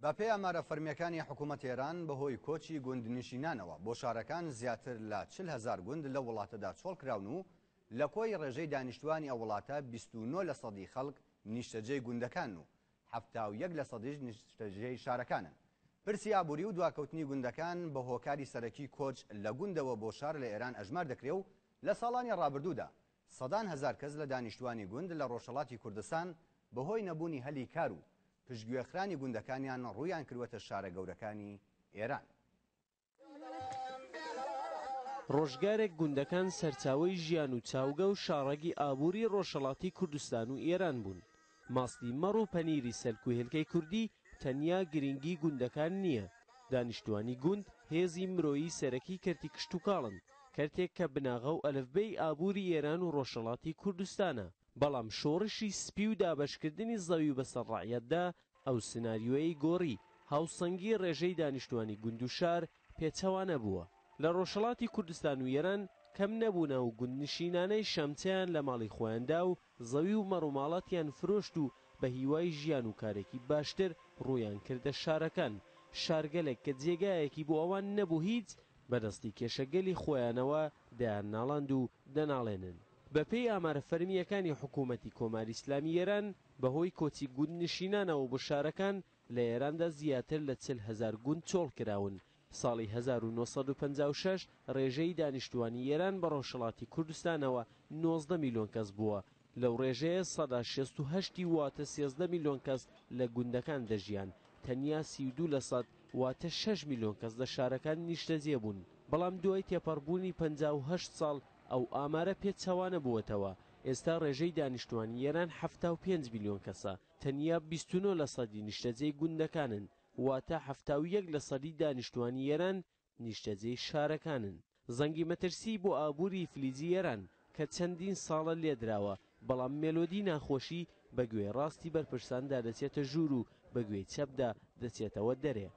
بەپێی ئامارە فەرمییەکانی حکوومەتی ئێران، بەهۆی کۆچی گوندنشینانەوە بۆ شارەکان زیاتر لە چل هەزار گوند لەو وڵاتەدا چۆڵ کراون و لە کۆی ڕێژەی دانیشتووانی ئەو وڵاتە بیست و نۆ لەسەدی خەڵک نیشتەجێی گوندەکانن و حەفتا و یەک لەسەدیش نیشتەجێی شارەکانن. پرسی ئابووری و دواکەوتنی گوندەکان بە هۆکاری سەرەکی کۆچ لە گوندەوە بۆ شار لە ئێران ئەژمار دەکرێ و لە ساڵانی ڕابردوودا سەدان هەزار کەس لە دانیشتوانی گوند لە ڕۆژهەڵاتی کوردستان بەهۆی نەبوونی هەلی کار و پشتگوێخرانی گوندەکانیان ڕوویان کردووەتە شارە گەورەکانی ئێران. ڕۆژگارێک گوندەکان سەرچاوەی ژیان و چاوگە و شاڕەگی ئابووری ڕۆژهەڵاتی کوردستان و ئێران بوون. ماستی مەڕ و پەنیری سەلک و هێلکەی کوردی تەنیا گرینگی گوندەکان نییە، دانیشتوانی گوند هێزی مرۆیی سەرەکی کەرتی کشتوکاڵن، کەرتێک کە بناغە و ئەلفبێی ئابووری ئێران و ڕۆژهەڵاتی کوردستانە، بەڵام شۆڕشی سپی و دابەشکردنی زەوی بەسەر ڕەعیەتدا ئەو سناریۆیەی گۆڕی، هاوسەنگی ڕێژەی دانیشتوانی گوند و شار پێچەوانە بووە، لە ڕۆژهەڵاتی کوردستان و ئێران کەم نەبوونە و گوندنشینانەی شەمچەیان لە ماڵی خۆیاندا و زەوی و مەڕوماڵاتیان فرۆشت و بە هیوای ژیان و کارێکی باشتر ڕوویان کردە شارەکان، شارگەلێک کە جێگایەکی بۆ ئەوان نەبوو هیچ، بە دەستی کێشەگەلی خۆیانەوە دەیان ناڵاند و دەناڵێنن. بە پێی ئامارە فەرمییەکانی حکوومەتی کۆماری ئیسلامی ئێران، بە هۆی کۆچی گوندنشینانەوە بۆ شارەکان، لە ئێراندا زیاتر لە چل هەزار گوند چۆڵ کراون، ساڵی هەزار و نۆ سەد و پەنجا و شەش ڕێژەی دانیشتووانی ئێران بە ڕۆژهەڵاتی کوردستانەوە نۆزدە میلیۆن کەس بووە، لەو ڕێژەیە سەدا شێست و هەشت ی واتە سێزدە میلیۆن کەس لە گوندەکان دەژیان، تەنیا سی و دوو لە سەد واتە شەش میلیۆن کەس لە شارەکان نیشتەجێ بوون، بەڵام دوای تێپەڕبوونی پەنجا و هەشت ساڵ ئەو ئامارە پێچەوانە بووەتەوە، ئێستا ڕێژەی دانیشتووانی ئێران حەفتا و پێنج میلیۆن کەسە، تەنیا بیست و نۆ لە سەدی نیشتەجێی گوندەکانن، واتە حەفتا و یەک لە سەدی دانیشتوانی ئێران نیشتەجێی شارەکانن. زەنگی مەترسیی بۆ ئابووریی فلجی ئێران کە چەندین ساڵە لێ دراوە، بەڵام مێلۆدیی ناخۆشی بە گوێی ڕاستی بەرپرساندا دەچێتە ژوور و بە گوێی چەپدا دەچێتەوە دەرێ.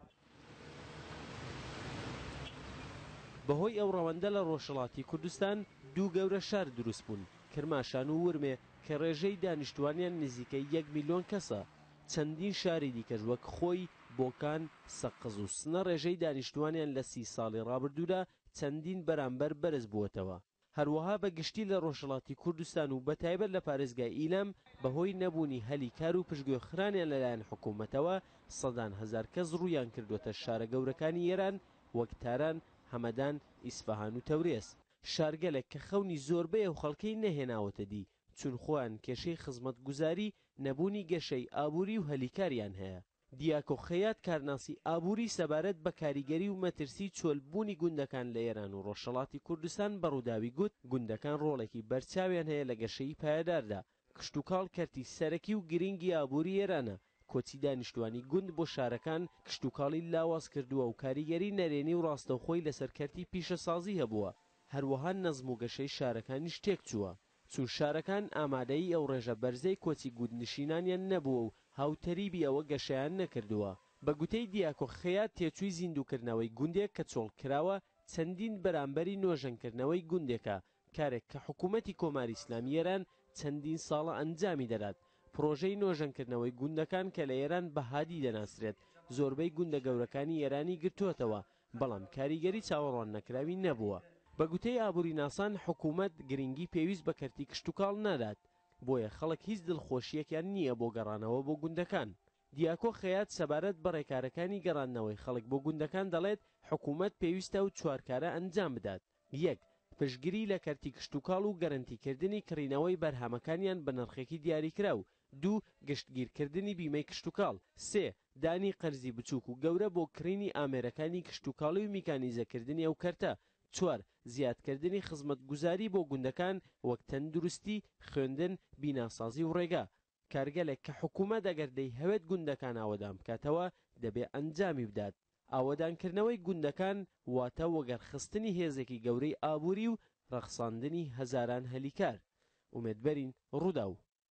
بە هۆی ئەو ڕەوەندە لە ڕۆژهەڵاتی کوردستان دوو گەورە شار دروست بوون، کرماشان و ورمێ کە ڕێژەی دانیشتوانیان نزیکەی یەک میلیۆن کەسە. چەندین شاری دیکەش وەک خۆی، بۆکان، سەقز و سنە ڕێژەی دانیشتووانیان لە سی ساڵی ڕابردوودا چەندین بەرامبەر بەرز بووەتەوە. هەروەها بە گشتی لە ڕۆژهەڵاتی کوردستان و بە تایبەت لە پارێزگای ئیلام بە هۆی نەبوونی هەلی کار و پشتگوێخرانیان لەلایەن حکوومەتەوە سەدان هەزار کەس ڕوویان کردووەتە شارە گەورەکانی ئێران وەک تاران، هەمەدان، ئیسفەهان و تەورێز. شارگەلێک کە خەونی زۆربەی ئەو خەڵکەی نەهێناوەتە دی چون خۆیان کێشەی خزمەتگوزاری، نەبوونی گەشەی ئابووری و هەلی کاریان هەیە. دیاکۆ خەیات کارناسی ئابووری سەبارەت بە کاریگەری و مەترسی چۆل بوونی گوندەکان لە ئێران و ڕۆژهەڵاتی کوردستان بە ڕووداوی گوت، گوندەکان ڕۆڵێکی بەرچاویان هەیە لە گەشەی پایەداردا، کشتوکاڵ کەرتی سەرەکی و گرینگی ئابووری ئێرانە، کۆچی دانیشتوانی گوند بۆ شارەکان کشتوکاڵی لاواز کردووە و کاریگەری نەرێنی و ڕاستەوخۆی لەسەر کەرتی پیشەسازی هەبووە، هەروەها نەزم و گەشەی شارەکانیش تێکچووە، چون شارەکان ئامادەیی ئەو ڕێژە بەرزەی کۆچی گوندنشینانیان نەبووە و هاوتەریبی ئەوە گەشەیان نەکردووە. بە گوتەی دیاکۆ خەیات تێچووی زیندووکردنەوەی گوندێک کە چۆڵکراوە چەندین بەرامبەری نۆژەنکردنەوەی گوندێکە، کارێک کە حکوومەتی کۆماری ئیسلامی ئێران چەندین ساڵە ئەنجامی دەدات. پڕۆژەی نۆژەنکردنەوەی گوندەکان کە لە ئێران بە هادی دەناسرێت، زۆربەی گوندە گەورەکانی ئێرانی گرتووەتەوە، بەڵام کاریگەری چاوەڕوان نەکراوی نەبووە. بە گوتەی ئابووریناسان، حکوومەت گرنگی پێویست بە کەرتی کشتوکاڵ نادات، بۆیە خەڵک هیچ دڵخۆشییەکیان نییە بۆ گەڕانەوە بۆ گوندەکان. دیاکۆ خەیات سەبارەت بە ڕێکارەکانی گەڕاندنەوەی خەڵک بۆ گوندەکان دەڵێت، حکوومەت پێویستە ئەو چوار کارە ئەنجام بدات. یەک، پشتگری لە کەرتی کشتوکاڵ و گەرەنتیکردنی کڕینەوەی بەرهەمەکانیان بە نرخێکی دیاریکراو. دوو، گشتگیرکردنی بیمەی کشتوکاڵ. سێ، دانی قەرزی بچووک و گەورە بۆ کڕینی ئامێرەکانی کشتوکاڵی و میکانیزەکردنی ئەو کەرتە. چوار، زیادکردنی خزمەتگوزاری بۆ گوندەکان وەک تەندروستی، خوێندن، بیناسازی و ڕێگا. کارگەلێک کە حکوومەت ئەگەر دەیهەوێت گوندەکان ئاوەدان بکاتەوە، دەبێ ئەنجامی بدات. ئاوەدانکردنەوەی گوندەکان واتە وەگەڕخستنی هێزێکی گەورەی ئابووری و ڕەخساندنی هەزاران هەلی کار. ئومێدبەرین، ڕووداو.